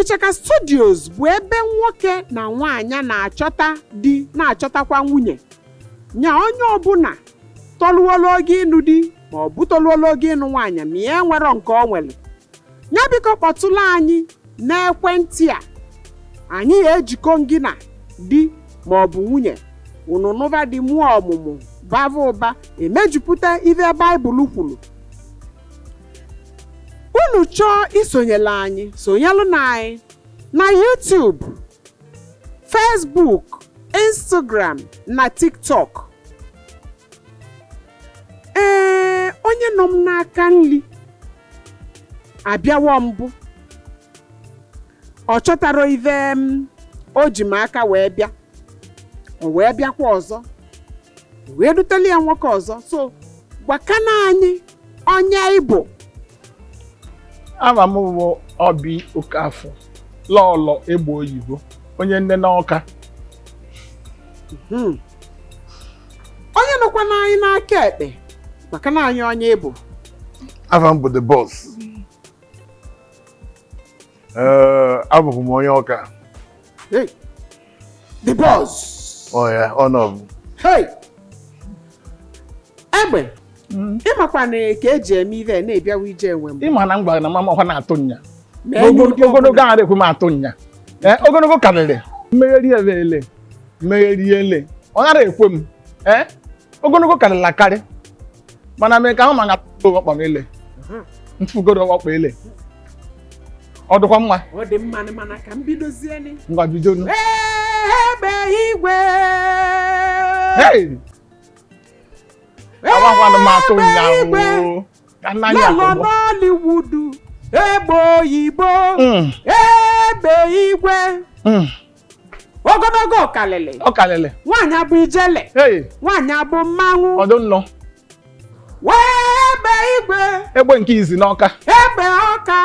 Ichaka Studios bụ ebe nwoke na nwaanyị na-achọta di na-achọtakwa nwunye nya onye ọbụla tọluola oge ịnụ di ma ọ bụ tọluola oge ịnụ nwaanyị ma ya enwerọ nke o nwere ya biko kpọtụla anyị n'ekwentị a anyị ya ejikọ gị na di ma ọ bụ nwunye unu nụba di mụọ ọmụmụ bava ụba emejupụta ife baịbụl kwuru unu chọọ isonyela anyị sonyelụ na anyị na YouTube Facebook Instagram na TikTok ee onye nọ m n'aka nri abịawo mbụ ọ chọtarọ ive o ji maka wee bịa o wee bịakwa ọzọ e wee dutela ya nwoke ọzọ so gwakana anyị onye ị bụ ava m bụ Obi Okafọ Lọọlọ egbe oyibo onye nne n'ọka Hmm. onye nọkwana anyị n'aka ekpe gwakana anyị onye ị bụ afa m bụ the boss Ee, abụ m onye Ọka Hey, the boss. ọ ya ọ nọ bụ Hey! Egbe, ịmakwa na ka eji eme ive na-ebiawa ije enwe m. ịma na m gwara na mama ọkwa na-atụ nya Mee N'ogo- n'ụdị ọbụla. ogologo ahụ ekwe m atụ nya Ee, ogologo karịrị mmegheri ele ele mmegheri ele ọ nara ekwe m Ee, ogologo karịrị akarị mana mee ka ahụ ma ngapụgo ọkpa m ile mfugoro ọkpa ile ọ dịkwa mma ọ dị mma mana ka m bidozie ngwa bido nu egbe igwe agwagwanụ m atụ ụnyaahụ ka nna anyị akọgbọ Nollywood egbe oyibo hmm. egbe igwe hmm. ogologo ọkalịlị ọ kalịlị nwaanyị bụ ijele hey nwaanyị bụ mmanwụ ọdụ nnọ wee egbe igwe egbe nke izi n'ọka egbe ọka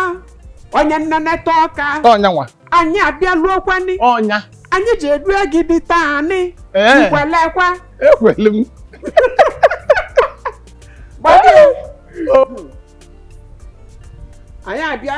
onye nneneta ọka ọ nya nwa anyị abịaluokwani ọ nya anyị ji edu gị di taanị Ee. i kwelekwa ekweli m gbadị O, anyị abịa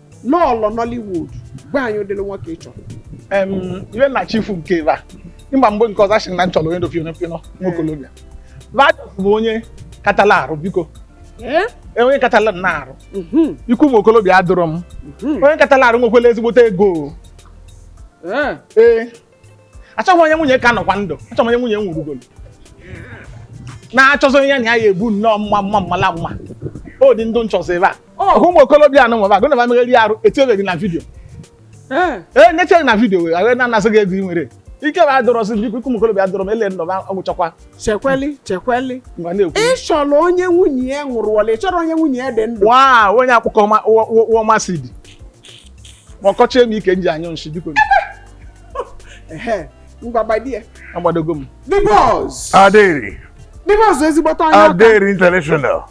Lọọlọ Nollywood gwa anyị ụdịrị nwoke ị chọrọ Em, iwe na chifu nke ebe a ịgba mgbe nke ọzọ asịrị na m chọrọ onye dofino pino nwokolobia vajọs bụ onye katala arụ biko Eh? e onye katala nna arụ Mhm, ikwu ụmụ okolobịa adịrọ m mhm. onye katala arụ nwekwela ezigbote ego Eh. ee achọghị onye nwunye ka nọkwa ndụ achọghị onye nwunye nwụrụgolo na-achọzọ onye ya na ya ya ebu nnọọ mma mma mmala mma o dị ndụ nchọzọ ebe a ọhụ ụmụ okorobịa anụ nwebe agụ na ba megharị arụ etinyebeghị na vidio ee ee nyecheghị na vidio wee agha na-anasị gị ego ị nwere ike bụ adọrọsị biko ụmụ okorobịa adọrọ m ele nnọba ọgwụchakwa chekweli chekweli mgbe na-ekwu ị chọrọ onye nwunye ya nwụrụọla ị chọrọ onye nwunye ya dị ndụ waa onye akpụkpọ ọma- ụwa- ụwa- ụwa ọma si dị ma ọkọchie m ike m ji anyụ nshi biko mgbagbadie agbadogo m the boss adịrị the boss ezigbote onye ọka adịrị international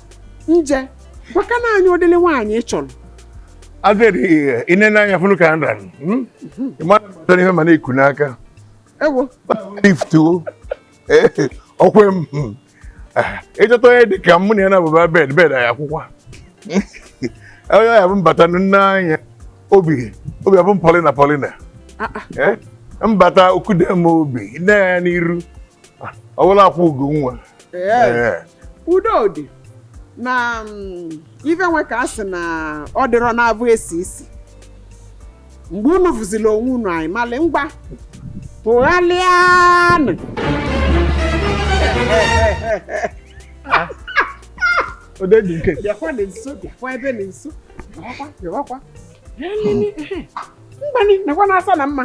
nje gwakwanụ anyị ụdịlị nwaanyị ị chọrọ adịrị ihe ine n'anya fụnụ ka nra ị mara ihe m na-ekwu n'aka ewo liftuo o kwe m ịchọta onye dị ka mụ na ya na-abụba bed bed anyị akwụkwọ onye ya bụ mbata nne anya obi obi abụ m Paulina Paulina mbata o kudo m obi nne ya n'iru ọwụla akwụ ugo nwa udo dị na mm, ife nwe ka a sị na ọ dịrọ na-abụ esi isi mgbe unu fụziri onwe unu anyị malị ngwa tụgharịanụ ode dị nke bịakwa dị nso bịakwa ebe dị nso bịawakwa bịawakwa mgbanị nakwa na-asa na mma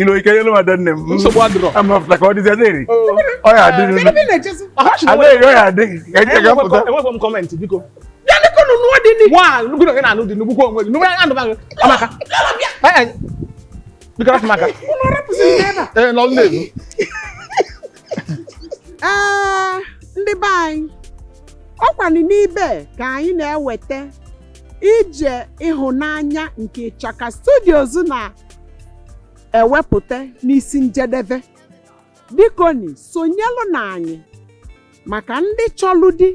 ilo ike yelu ma da nne m nsogbu adịrọ ama fụta ka ọ dịzi adịrị ọ ya adịrị adịrị ọ ya adịrị ka eche ka pụta enweghị m kọmentị biko ya nịkọ nụ nụọ dị nị nwa gị na gị na-anụ dị nnukwu onwe gị nụwa anụ gị amaka biko rapụ maka ee nọ nne m ee ndị be anyị ọ kwanụ n'ebe a ka anyị na-eweta ije ịhụnanya nke Ịchaka Studios na ewepụta n'isi njedebe bikonị sonyelụnị anyị maka ndị chọlụ di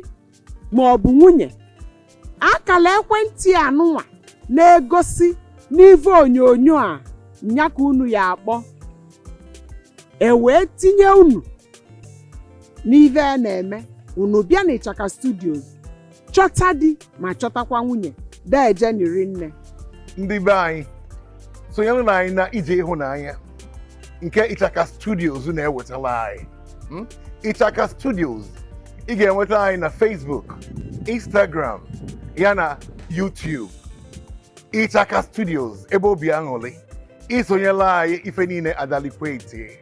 ma ọ bụ nwunye akala ekwentị a nụnwa na-egosi n'ive onyonyo a nya ka unu ya-akpọ e wee tinye unu n'ive a na-eme unu bịa n'Ịchaka Studios chọta di ma chọtakwa nwunye deejenị rị nne ndị be anyị sonyerenụ anyị na ije ịhụnanya nke Ịchaka Studios na-ewetalụ anyị Hmm? Ịchaka Studios ị ga-enweta anyị na Facebook Instagram ya na YouTube Ịchaka Studios ebe obi aṅụlị i sonyelụ anyị ife niile adalikwa eti